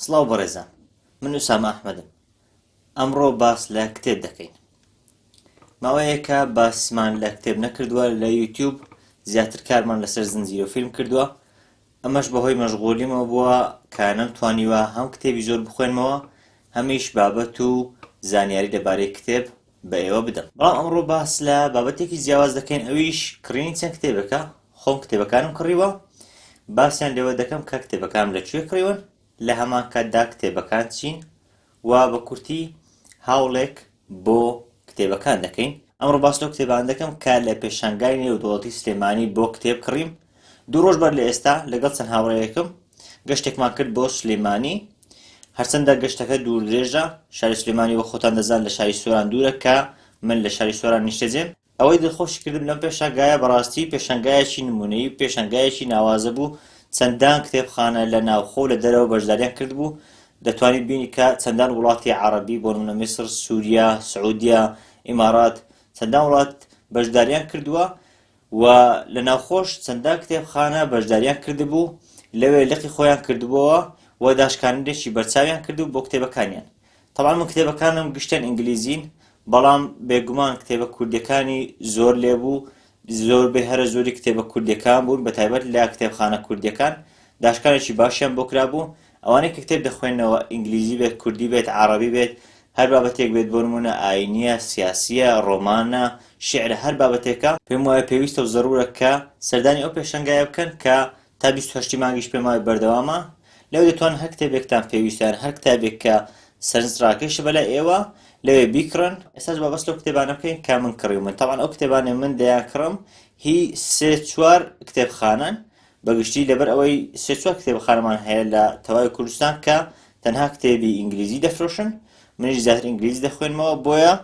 سڵاو بەڕێزان من ئوسامە ئەحمەدم ئەمڕۆ باس لە کتێب دەکەین ماوەیەکە باسمان لە کتێب نەکردووە لە یوتیوب زیاتر کارمان لەسەر زنجیرە فیلم کردووە ئەمەش بەهۆی مەشغۆلیمەوە بووە کە نەم توانیوە هەم کتێبی زۆر بخوێنمەوە هەمیش بابەت و زانیاری لەبارەی کتێب بە ئێوە بدەم بەڵام ئەمڕۆ باس لە بابەتێکی جیاواز دەکەین ئەویش کڕینی چەند کتێبێکە خۆم کتێبەکانم کڕیوە باسیان لەوە دەکەم کە کتێبەکانم لە کوێ کڕیون لە هەمان کاتدا کتێبەکان چین و بە کورتی هاوڵێک بۆ کتێبەکان دەکەین ئەمڕۆ باس لەو کتێبان دەکەم کە لە پێشانگای نێودوڵەتی سلێمانی بۆ کتێب کڕیم دوو ڕۆژ بەر لە ئێستا لەگەڵ چەند هاوڕێیەکم گەشتێکمان کرد بۆ سلێمانی هەرچەندە گەشتەکە دوور درێژە شاری سلێمانی وە خۆتان دەزان لە شاری سۆران دوورە کە من لە شاری سۆران نیشتەجێم ئەوەی دڵخۆشی کردم لەم پێشانگایە بەڕاستی پێشانگایەکی نمونەیی و پێشانگایەکی ناوازە بوو چەندان کتێبخانە لە ناوخۆ و لە دەرەوە بەشداریان کردبوو دەتوانیت بینی کە چەندان وڵاتی عەڕەبی بۆ نمونە میسر سووریا سعودیە ئیمارات چەندان وڵات بەشداریان کردووە و لە ناوخۆش چەندان کتێبخانە بەشداریان کردبوو، لەوێ لقی خۆیان کردبۆوە و داشکانەرێکی بەرچاویان کردبوو بۆ کتێبەکانیان. تەبعەن من کتێبەکانم گشتیان ئینگلیزین، بەڵام بێگومان کتێبە کوردیەکانی زۆر لێ بوو، زۆربەی هەرە زۆری کتێبە کوردیەکان بوون، بەتایبەت لە کتێبخانە کوردیەکان داشکانێکی باشیان بۆ کرابوو، ئەوانەی کە کتێب دەخوێننەوە، ئینگلیزی بێت، کوردی بێت، عەڕەبی بێت، هەر بابەتێک بێت، بۆ نموونە ئایینییە، سیاسییە، ڕۆمانە، شیعرە، هەر بابەتێکە، پێم وایە پێویستە و زەروورە کە سەردانی ئەو پێشەنگایە بکەن کە تا بیست و هەشتی مانگیش پێم وایە بەردەوامە، لەوێ دەتوانن هەر کتێبێکتان پێویستە یان هەر کتابێک کە سەرنجڕاکێشە بەلای ئێوە، لەوێ بیکڕن. ئێستاش با بەس لەو کتێبانە بکەین کە من کڕیومن، تەبعەن ئەو کتێبانەی من دەیانکڕم هی سێ چوار کتێبخانەن، بە گشتی لەبەر ئەوەی سێ چوار کتێبخانەمان هەیە لە تەوای کوردستان کە تەنها کتێبی ئینگلیزی دەفرۆشن منیش زیاتر ئینگلیزی دەخوێنمەوە بۆیە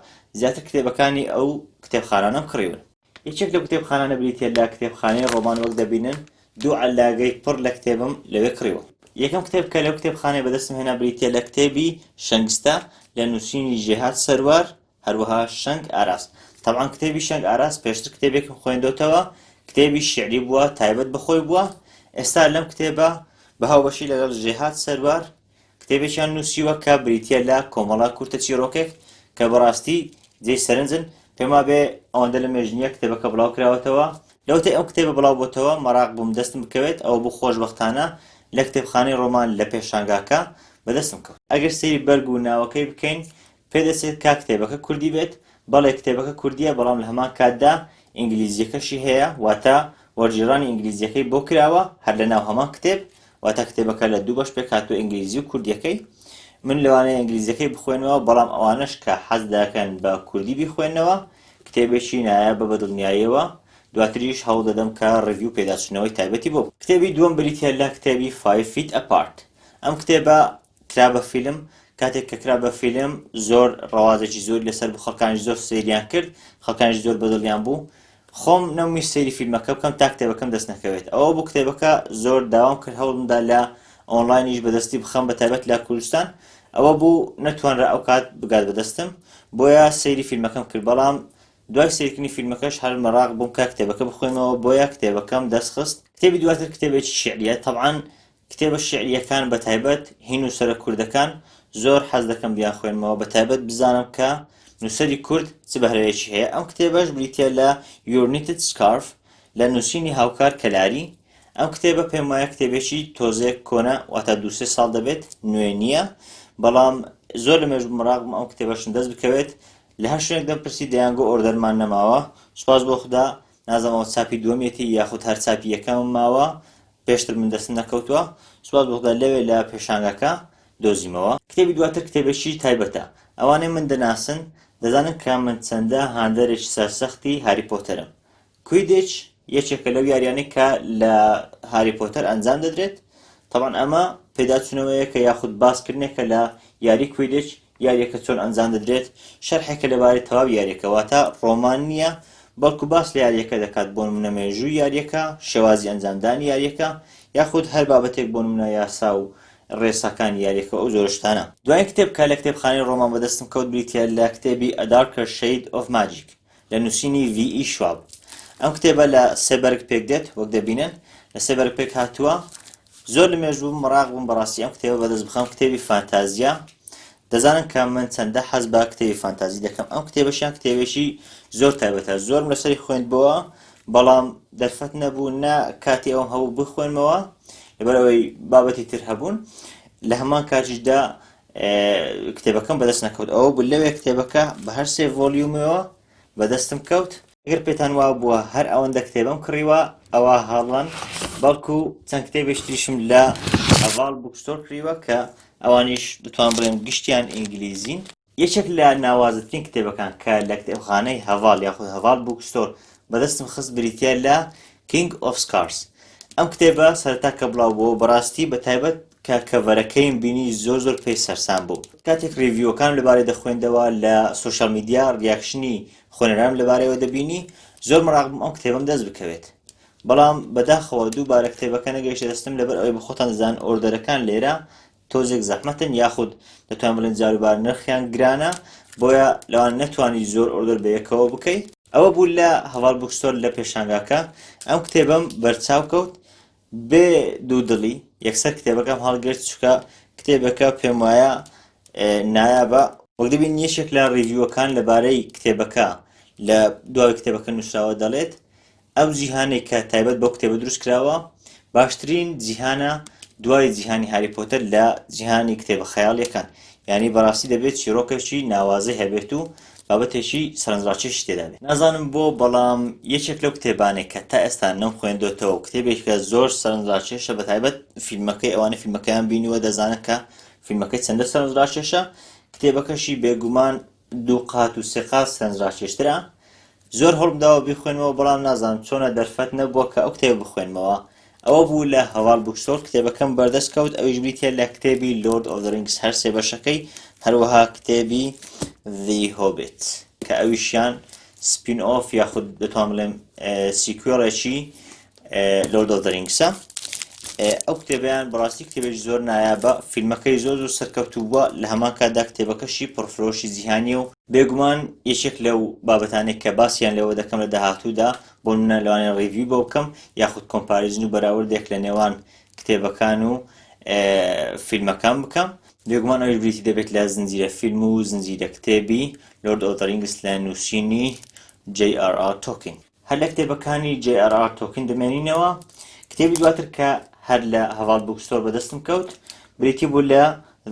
زیاتر کتێبەکانی ئەو کتێبخانانەم کڕیون. یەکێک لەو کتێبخانانە بریتیە لە کتێبخانەی ڕۆمان وەک دەبینن دوو عەللاگەی پڕ لە کتێبم لەوێ کڕیوە. یەکەم کتێب کە لەو کتێبخانەیە بەدەستم هێنا بریتیە لە کتێبی شەنگستە لە نووسینی ژێهات سەروار هەروەها شەنگ ئاراس. تەبعەن کتێبی شەنگ ئاراس پێشتر کتێبێکم خوێندۆتەوە، کتێبی شیعری بووە، تایبەت بە خۆی بووە. ئێستا لەم کتێبە بە هاوبەشی لەگەڵ ژێهات سەروار کتێبێکیان نووسیوە کە بریتییە لە کۆمەڵە کورتە چیڕۆکێک کە بەڕاستی جێی سەرنجن. پێم وابێ ئەوەندە لە مێژ نییە کتێبەکە بڵاو کراوەتەوە. لەوەتەی ئەم کتێبە بڵاو بۆتەوە مەراق بووم دەستم بکەوێت، ئەوە بوو خۆشبەختانە لە کتێبخانەی ڕۆمان لە پێشانگاکە بەدەستم کەوت. ئەگەر سەیری بەرگ و ناوەکەی بکەین پێدەچێت کا کتێبەکە کوردی بێت؟ بەڵێ کتێبەکە کوردییە بەڵام لە هەمان کاتدا ئینگلیزییەکەشی هەیە واتە وەرگێڕانی ئینگلیزییەکەی بۆ کراوە هەر لە ناو هەمان کتێب واتە کتێبەکە لە دوو بەش پێکهاتووە ئینگلیزی و کوردیەکەی من لەوانەیە ئینگلیزیەکەی بخوێنەوە بەڵام ئەوانەش کە حەز دەکەن بە کوردی بیخوێنەوە کتێبێکی نایە بە بەدڵنیاییەوە دواتریش هەوڵ دەدەم کە ڕیڤیو پێداچنەوەی تایبەتی بۆ کتێبی دووەم بریتە لە کتێبی 5 فیت ئەپارت ئەم کتێبە کرا بە فیلم کاتێک کە کرا بە فیلم زۆر ڕەوازێکی زۆری لەسەر بوو خەڵکانیش زۆر سەیریان کرد خەڵکانیش زۆر بەدڵیان بوو خۆم نەومی سەیری فیلمەکە بکەم تا کتێبەکەم دەست نەکەوێت ئەوە بوو کتێبەکە زۆر داوام کرد هەوڵمدا لە ئۆنلاینیش بەدەستی بخەم بە تایبەت لە کوردستان ئەوە بوو نەتوانرا ئەو کات بگات بەدەستم بۆیە سەیری فیلمەکەم کرد بەڵام دوای سیرکردنی فیلمەکەش هەر مەراق بووم کە کتێبەکە بخوێنەوە بۆیە کتێبەکەم دەستخست کتێبی دواتر کتێبێکی شعریە طبعاان کتێبە شیعرییەکان بە تایبەت هی نووسەرە کوردەکان زۆر حەز دەکەم بیانخوێنمەوە بە تایبەت بزانم کە نووسەری کورد چ بەهرەیەکی هەیە ئەم کتێبەش بریتە لە Your Knitted Scarf لە نووسینی هاوکار کەلاری ئەم کتێبە پێم وایە کتێبێکی تۆزێک کۆنە واتا دووسێ ساڵ دەبێت نوێ نییە بەڵام زۆر لە مێژ مراقم ئەم کتێبەشن دەست بکەوێت لە هەر شوێنێک دەم پرسی دەیانگۆ ئۆردەرمان نەماوە سوپاس بۆ خدا نازم ئەوە چاپی دووەمیەتی یاخود هەر چاپی یەکەمم ماوە پێشتر من دەستم نەکەوتووە سوپاس بۆ خودا لەوێ لە پێشانگاکە دۆزیمەوە. کتێبی دواتر کتێبێکی تایبەتە. ئەوانەی من دەناسن دەزانن کە من چەندە هاندەرێکی سەرسەختی هاری پۆتەرم. کویدیچ یەکێکە لەو یاریانەی کە لە هاری پۆتەر ئەنجام دەدرێت. تەبعەن ئەمە پێداچوونەوەیەکە یاخود باسکردنێکە لە یاری کویدیچ یاریەکە چۆن ئەنجام دەدرێت شەرحێکە لەبارەی تەواوی یاریەکە واتە ڕۆمان نییە بەڵکو باس لە یاریەکە دەکات بۆ نمونە مێژووی یاریەکە شێوازی ئەنجامدانی یاریەکە یاخود هەر بابەتێک بۆ نمونە یاسا و ڕێساکانی یاریەکە ئەو جۆرە شتانە. دوایین کتێب کە لە کتێبخانەی ڕۆمان بەدەستم کەوت بریتییە لە کتێبی A Darker Shade of Magic. لە نووسینی ڤی ئی شواب. ئەم کتێبە لە سێ بەرگ پێک دێت وەک دەبینن لە سێ بەرگ پێک هاتووە زۆر لە مێژ بووم مەراق بووم بەڕاستی ئەم کتێبە بەدەست بخەم کتێبی فانتازیە دەزانن کە من چەندە حەز بە کتێبی فانتازی دەکەم ئەم کتێبەشیان کتێبێکی زۆر تایبەتە زۆرم لەسەری خوێندبەوە بەڵام دەرفەت نەبوو نە کاتی ئەوم هەبوو بخوێنمەوە لەبەرەوەی بابەتی تر هەبوون لە هەمان کاتیشدا کتێبەکەم بەدەست نەکەوت ئەوە بوو لەوێ کتێبەکە بە هەر سێ ڤۆلیومەوە بەدەستم کەوت گەر پێتان وا بووە هەر ئەوەندە کتێبم کڕیوە ئەوە هاڵەن بەڵکو چەند کتێبێش تریشم لە ئەڤاڵ بوکستۆر کڕیوە کە ئەوانیش دەتوان بڵێم گشتیان ئینگلیزین یەکێک لە ناوازەترین کتێبەکان کە لە کتێبخانەی هەڤاڵ یاخود هەڤاڵ بوکستۆر بەدەستم خست بریتە لە کینگ ئۆف سکارس ئەم کتێبە سەرتا کە بڵاو بۆ بەڕاستی بە تایبەت کە کەڤەرەکەیم بینی زۆر زۆر پێی سەرسام بووم کاتێک ڕیڤیوەکانم لەبارەی دەخوێندەوە لە سۆشیال میدیا ڕیاکشنی خوێنەرانم لەبارەیەوە دەبینی زۆر مەراق بووم ئەم کتێبەم دەست بکەوێت بەڵام بەداخەوە دووبارە کتێبەکە نەگەیشتە دەستم لەبەر ئەوەی بەخۆتان دەزان ئۆردەرەکان لێرە تۆزێک زەحمەتن یاخود دەتوان بڵێن جاروبار نرخیان گرانە بۆیە لەوان نەتوانی زۆر ئۆردەر بە یەکەوە بکەیت ئەوە بوو لە هەواڵ بوکستۆر لە پێشانگاکە ئەم کتێبم بەرچاو کەوت بێ دوو دڵی یەکسەر کتێبەکەم هەڵگرت چکە کتێبەکە پێم وایە نایابە وەک دەبین یەشێک لە ڕیڤیوەکان لەبارەی کتێبەکە لە دوای کتێبەکە نووسراوە دەڵێت ئەو جیهانێک کە تایبەت بۆ کتێبە دروست کراوە باشترین جیهانە دوای جیهانی هاری پۆتەر لە جیهانی کتێبە خەیاڵیەکان ینی بەڕاستی دەبێت چیرۆکەشی ناوازەی هەبێت و بابەتێکی سەرنجڕاکێشی تێدابێ. نازانم بۆ بەڵام یەکێک لەو کتێبانەی کە تا ئێستا نەم خوێندۆتەوە و کتێبێکە زۆر سەرنجڕاکێشە بە تایبەت فیلمەکەی ئەوانە فیلمەکەیان بینوە دەزانن کە فیلمەکەی چەندە سەرنجڕاکێشە کتێبەکەشی بێگومان دوو قات و سێ قات سەرنجڕاکێشترە زۆر هەوڵم داوە بیخوێنمەوە بەڵام نازانم چۆنە دەرفەت نەبووە کە ئەو کتێبە بخوێنمەوە ئەوە بوو لە هەڤاڵ بوکستۆر کتێبەکەم بەردەست کەوت ئەویش بریتیە لە کتێبی لۆرد ئۆف رینگس هەر سێ بەشەکەی هەروەها کتێبی ذی هۆبێت کە ئەویشیان سپین ئۆف یاخود دەتوان بڵێم سیکوێڵێکی لۆرد ئۆف دەرینگسە ئەو کتێبیان بەڕاستی کتێبێکی زۆر نایابە فیلمەکەی زۆر زۆر سەرکەوتووە لە هەمان کاتدا کتێبەکەشی پڕفرۆشی جیهانی و بێگومان یەکێک لەو بابەتانێک کە باسییان لەوە دەکەم لە داهاتوودا بۆ منە لەوانێ ڕیوی بۆ بکەم یاخود کۆمپارزن و بەراوردێک لە نێوان کتێبەکان و فیلمەکان بکەم بێگومان ئەوش بریتی دەبێت لە زنجیرە فیلم و زنجیرە کتێبی لۆرد ئۆدرینگس لە نووسینی JRR تۆکین هەر لە کتێبەکانی جەی ئار ئار تۆکین دەمێنینەوە کتێبی دواتر کە هەر لە هەڤاڵ بوکستۆر بەدەستم کەوت بریتی بوو لە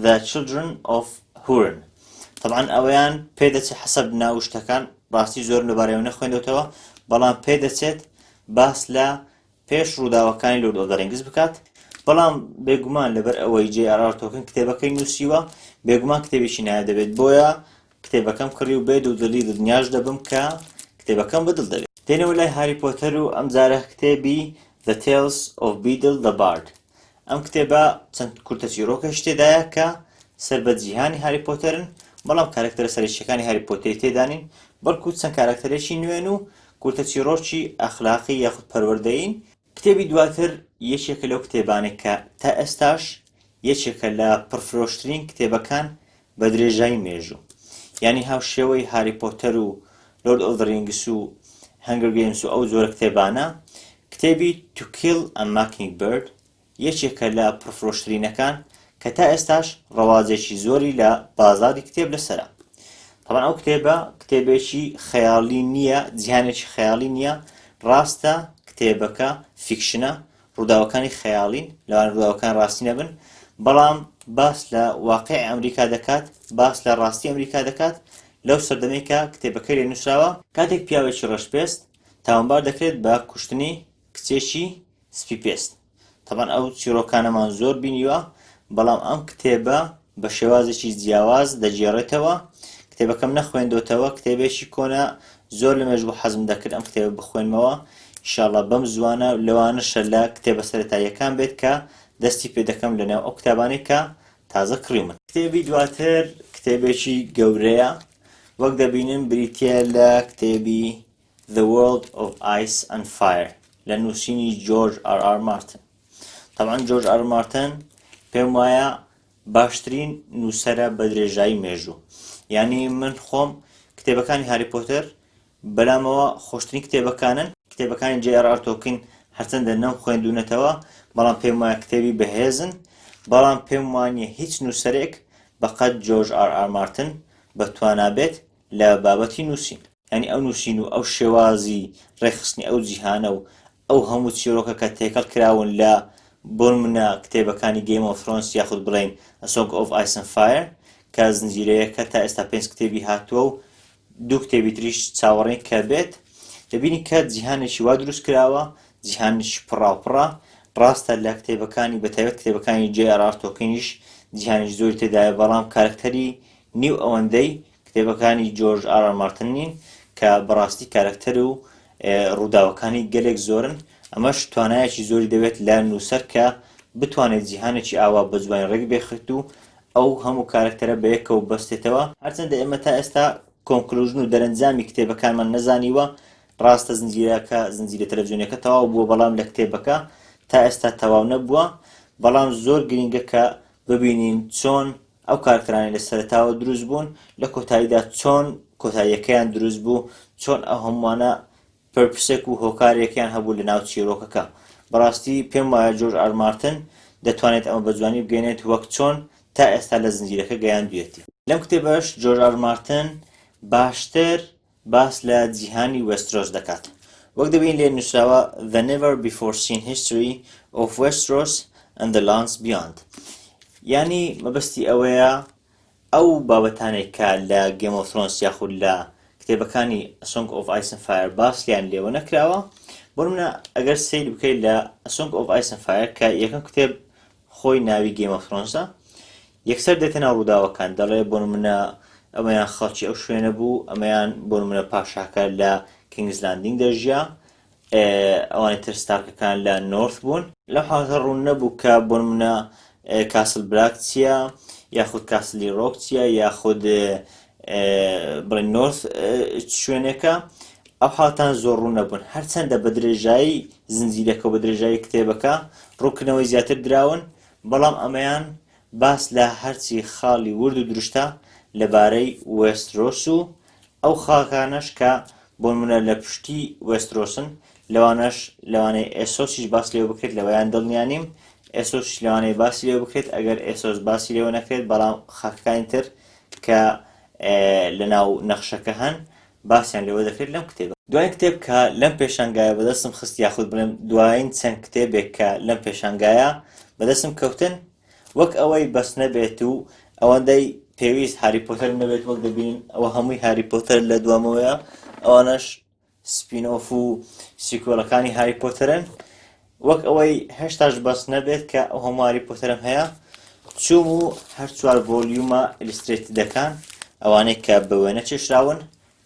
The Children of Huron طبعا ئەوەیان پێدەچێت حەسەب ناو شتەکان ڕاستی زۆرم لەبارەیەوە نەخوێندەوەتەوە بەڵام پێدەچێت باس لە پێش ڕووداوەکانی لۆرد ئۆف ڕینگز بکات بەڵام بێگومان لەبەر ئەوەی جێ ئارار تۆکن کتێبەکەی نووسیوە بێگومان کتێبێکی نایە دەبێت بۆیە کتێبەکەم کڕی و بێ دوودڵی دڵنیاش دەبم کە کتێبەکەم بە دڵ دەوێ. دێنەوە لای هاری پۆتەر و ئەمجارە کتێبی The Tales of Beedle the Bard. ئەم کتێبە چەند کورتە چیڕۆکەش تێدایە کە سەر بە جیهانی هاری پۆتەرن، بەڵام کارەکتەرە سەرەکییەکانی هاری پۆتەری تێدا نین، بەڵکو چەند کارەکتەرێکی نوێن و کورتە چیڕۆکی ئەخلاقی یاخود پەروەردەیین، کتێبی دواتر یەکێکە لەو کتێبانەی کە تا ئێستاش یەکێکە لە پڕفرۆشترین کتێبەکان بە درێژایی مێژوو یانی هاوشێوەی هاری پۆتەر و لۆرد ئۆف ڕینگس و هەنگر گەیمس و ئەو جۆرە کتێبانە کتێبی توکیل ئە ماکینگ برد یەکێکە لە پڕفرۆشترینەکان کە تا ئێستاش ڕەواجێکی زۆری لە بازاری کتێب لەسەرە تەبەن ئەو کتێبە کتێبێکی خەیاڵی نییە جیهانێکی خەیاڵی نییە ڕاستە کتێبەکە فیکشنە ڕووداوەکانی خەیاڵین لەوان ڕووداوەکان ڕاستی نەبن بەڵام باس لە واقعی ئەمریکا دەکات باس لە ڕاستی ئەمریکا دەکات لەو سەردەمێکە کتێبەکەی لێ نووسراوە کاتێک پیاوێکی ڕەشپێست تاوانبار دەکرێت بە کوشتنی کچێکی سپی پێست تەبعەن ئەو چیڕۆکانەمان زۆر بینیوە بەڵام ئەم کتێبە بە شێوازێکی جیاواز دەگێڕێتەوە کتێبەکەم نەخوێندۆتەوە کتێبێکی کۆنە زۆر لە مێژ بۆ حەزم دەکرد ئەم کتێبە بخوێنمەوە ئیشاڵە بەم زوانە لەوانەشە لە کتێبە سەتاییەکان بێت کە دەستی پێ دەکەم لەنێو ئەو کتابانەی کە تازە کڕیومن کتێبی دواتر کتێبێکی گەورەیە وەک دەبینن بریتە لە کتێبی The World of Ice and Fire لە نووسینی جۆرج ئار ئار مارتن تەبعەن جۆرج ئار مارتن پێم وایە باشترین نووسرە بە درێژایی مێژوو یعنی من خۆم کتێبەکانی هاری پۆتەر بەلامەوە خۆشترین کتێبەکانن کتێبەکانی جێ ئار تۆکن هەرچەندە نەم خوێندونەتەوە بەڵام پێم وایە کتێبی بەهێزن بەڵام پێم وانە هیچ نووسەرێک بەقەت جۆرج ئار ئار مارتن بە توانابێت لە بابەتی نووسین. یانی ئەو نووسین و ئەو شێوازی ڕێکخستنی ئەو جیهانە و ئەو هەموو چیرۆکە کە تێکەڵ کراون لە بۆنمونە کتێبەکانی گەیم ئۆف ثرۆنس یاخود بڵێین A Song of Ice and Fire کە زنجیرەیەکە تا ئێستا پێنج کتێبی هاتووە و دوو کتێبی تریش چاوەڕێین کە بێت دەبینی کە جیهانێکی وا دروست کراوە جیهانێکی پڕاوپڕە ڕاستە لە کتێبەکانی بەتایبەت کتێبەکانی جێ ئەرار تۆکینیش جیهانێکی زۆری تێدایە بەڵام کارکتەری نیو ئەوەندەی کتێبەکانی جۆرج ئار ئار مارتن نین کە بەڕاستی کارەکتەر و ڕووداوەکانی گەلێک زۆرن ئەمەش توانایەکی زۆری دەوێت لە نووسەر کە بتوانێت جیهانێکی ئاوا بە جوانی ڕێک بێخت و ئەو هەموو کارەکتەرە بە یەکەوە بەستێتەوە هەرچەندە ئێمە تا ئێستا کۆنکلوژن و دەرەنجامی کتێبەکانمان نەزانیوە ڕاستە زنجیرەکە زنجیرە تەلەڤزیۆنەکە تەواو بووە بەڵام لە کتێبەکە تا ئێستا تەواو نەبووە بەڵام زۆر گرنگە کە ببینین چۆن ئەو کارکتەرانەی لە سەرەتاوە دروست بوون لە کۆتاییدا چۆن کۆتاییەکەیان دروست بوو چۆن ئەو هەمووانە پرپسێک و هۆکارێکیان هەبوو لە ناو چیرۆکەکە بەڕاستی پێم وایە جۆرج ئار مارتن دەتوانێت ئەمە بە جوانی بگەێنێت وەک چۆن تا ئێستا لە زنجیرەکە گەیاندویەتی لەم کتێبەش جۆرج ئار مارتن باشتر باس لە جیهانی وێسترۆس دەکات. وەک دەبینین لێ نووسراوە The Never Before Seen History of Westeros and the Lands Beyond یانی مەبەستی ئەوەیە ئەو بابەتانێک کە لە گێم ئۆف ثرۆنس یاخود لە کتێبەکانی سۆنگ ئۆف ئایسن فایر باسیان لێوە نەکراوە بۆ منە ئەگەر سیر بکەیت لە سۆنگ ئۆف ئایسن فایر کە یەکەم کتێب خۆی ناوی گەیم ئۆف ثرۆنسە یەکسەر دێتە ناو ڕووداوەکان دەڵێ بۆ نمونە ئەمەیان خەڵکی ئەو شوێنە بوو ئەمەیان بۆ نمونە پاشاکە لە کینگزلاندینگ دەژیا ئەوانی تر ستارکەکان لە نۆرث بوون لەو حاڵەتە ڕوون نەبوو کە بۆ نمونە کاسل بلاک چییە یاخود کاسلی ڕۆک چییە یاخود بڵێن نۆرث شوێنێکە ئەو حاڵتان زۆر ڕوون نەبوون هەرچەندە بە درێژایی زنجیرەکە و بە درێژایی کتێبەکە ڕووکنەوەی زیاتر دراون بەڵام ئەمەیان باس لە هەرچی خاڵی ورد و درشتە لەبارەی وێسترۆس و ئەو خاکانەش کە بۆنمونە لە پشتی وێسترۆسن لەوانەش لەوانەیە ئێسۆسیش باس لێ بکرێت لەوەیان دڵنیانیم ئێسۆش لەوانەیە باسی لێ بکرێت ئەگەر ئێسۆس باسی لێوە نەکرێت بەڵام خاکەکانی تر کە لە ناو نەخشەکە هەن باسیان لێوە دەکرێت لەم کتێبە. دواین کتێب کە لەم پێشانگایە بەدەستم خست یاخود بڵێم دواین چەند کتێبێک کە لەم پێشانگایە بەدەستم کەوتن وەک ئەوەی بەس نەبێت و ئەوەندەی پێویست هاری پۆتەر نەبێت وەک دەبینین ئەوە هەمووی هاری پۆتەر لە دوامەوەیە ئەوانەش سپین ئۆف و سیکۆلەکانی هاری پۆتەرن وەک ئەوەی هەشتاش بەس نەبێت کە ئەو هەمواری پۆتەرم هەیە چوم و هەر چوار ڤۆلیومە ئیلسترێت دەکان ئەوانەی کە بە وێنە چێشراون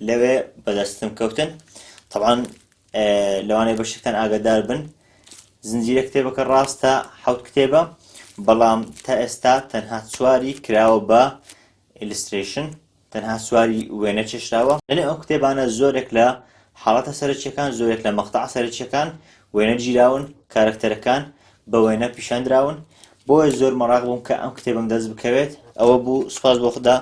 لەوێ بەدەستم کەوتن طبعاان لەوانەیە بەشتان ئاگدار بن زنجیرە کتێبەکە ڕاستە حوت کتێبە بەڵام تا ئێستا تەنها چواری کراوە بە ئیلستریشن تەنها سواری وێنە چێشراوە لەنێو ئەم کتێبانە زۆرێک لە حاڵەتە سەرەکیەکان زۆرێک لە مەقتەع سەرەکیەکان وێنە گیراون کارکتەرەکان بە وێنە پیشان دراون بۆیە زۆر مەراق بووم کە ئەم کتێبم دەست بکەوێت ئەوە بوو سوپاس بۆ خدا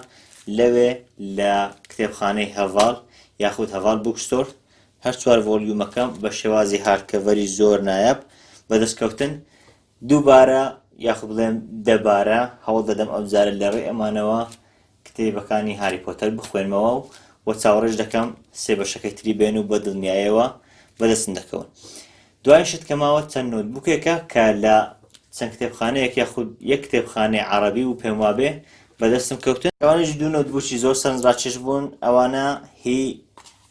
لەوێ لە کتێبخانەی هەڤاڵ یاخود هەڤاڵ بوکستۆر هەر چوار ڤۆلیومەکەم بە شێوازی هاردکەڤەری زۆر نایاب بەدەستکەوتن دووبارە یاخود بڵێم دەبارە هەوڵ دەدەم ئەوجارە لەڕێی ئەمانەوە کتێبەکانی هاری پۆتەر بخوێنمەوە و وە چاوەڕێش دەکەم سێ بەشەکەی تری بێن و بە دڵنیایەوە بەدەستم دەکەون دوای شت کە ماوە چەند نۆتبوکێکە کە لە چەند کتێبخانەیەک یاخود یەک کتێبخانەی عربی و پێم وابێ بەدەستم کەوتن ئەوانش دوو نۆتبوکی زۆر سەرنجڕاکێش بوون ئەوانە هی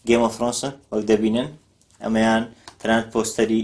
گێمەفرۆنسن وەک دەبینن ئەمەیان تەنانەت پۆستەری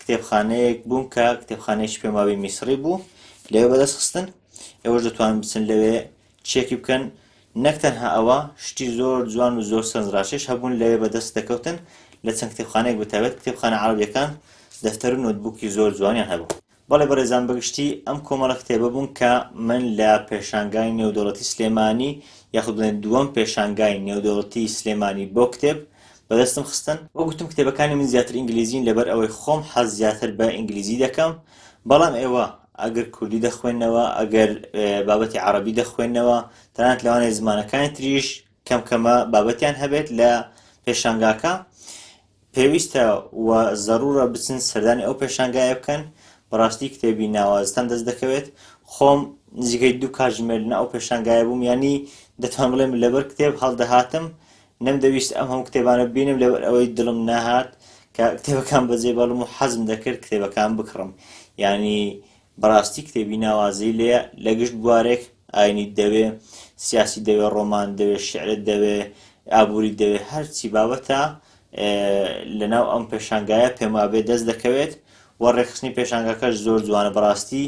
کتێبخانەیەک بووم کە کتێبخانەیەکی پێم وابێ میسڕی بوو لەوێ بەدەست خستن ئێوەش دەتوان بچن لەوێ چێکی بکەن نەک تەنها ئەوە شتی زۆر جوان و زۆر سەنجڕاشێش هەبوون لەوێ بەدەست دەکەوتن لە چەند کتێبخانەیەک بتابێت کتێبخانە عربیەکان دەفتەر و نوتبووکی زۆر جوانیان هەبوو بەڵێ بەڕێزان بەگشتی ئەم کۆمەڵە کتێبە بوون کە من لە پێشانگای نێودەوڵەتی سلێمانی یاخود بڵێن دووەم پێشانگای نێودەوڵەتی سلێمانی بۆ کتێب بەدەستم خستن، وەک گوتم کتێبەکانی من زیاتر ئینگلیزین لەبەر ئەوەی خۆم حەز زیاتر بە ئینگلیزی دەکەم بەڵام ئێوە ئەگەر کوردی دەخوێنەوە ئەگەر بابەتی عەڕەبی دەخوێنەوە تەنانەت لەوانەیە زمانەکانی تریش کەم کەمە بابەتیان هەبێت لە پێشانگاکە پێویستە و زەرورە بچن سەردانی ئەو پێشانگایە بکەن بەڕاستی کتێبی ناوازتان دەست دەکەوێت خۆم نزیکەی دوو کاژمێر لە ئەو پێشانگایە بووم ینی دەتوان بڵێم لەبەر کتێب هەڵدەهاتم نەمدەویست ئەم هەموو کتێبانە ببینم لەبەر ئەوەی دڵم نەهات کە کتێبەکان بەجێ بەڵم و حەزم دەکرد کتێبەکان بکڕم یعنی بەڕاستی کتێبی ناوازەی لێیە لە گشت بوارێک ئاینی دەوێ سیاسی دەوێ ڕۆمان دەوێ شعرت دەوێ ئابووری دەوێ هەرچی بابەتە لەناو ئەم پێشانگایە پێمابێ دەست دەکەوێت و ڕێکخستنی پێشانگاکەش زۆر جوانە بەڕاستی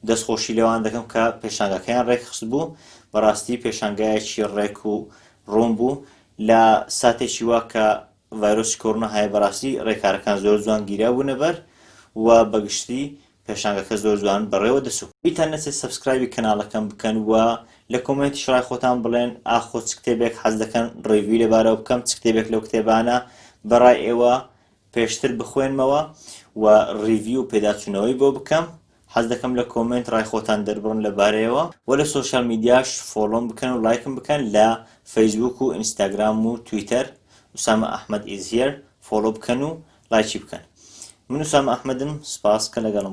دەستخۆشی لەوان دەکەم کە پێشانگاکەیان ڕێکخست بوو بەڕاستی پێشانگایەکی ڕێک و ڕوون بوو لە ساتێکی وا کە ڤایرۆسی کۆرۆنا هەیە بەڕاستی ڕێکارەکان زۆر جوان گیرا بوونە بەر و بەگشتی پێشانگەکە زۆر جوان بەڕێوە دەچوو. بیتان نەچێت سەبسکرایبی کەناڵەکەم بکەن و لە کۆمێنتیش ڕای خۆتان بڵێن ئاخۆ چ کتێبێک حەز دەکەن ڕیڤیوی لەبارەوە بکەم چ کتێبێک لەو کتێبانە بە ڕای ئێوە پێشتر بخوێنمەوە و ڕیڤیو و پێداچوونەوەی بۆ بکەم حەز دەکەم لە کۆمێنت ڕای خۆتان دەربڕن لە بارەیەوە وە لە سۆشیال میدیاش فۆڵۆم بکەن و ڵایکم بکەن لە فەیسبووک و ئینستاگرام و تویتەر Usama Ahmed is here فۆڵۆ بکەن و ڵایکی بکەن من Usama Ahmed م سپاس کە لەگەڵم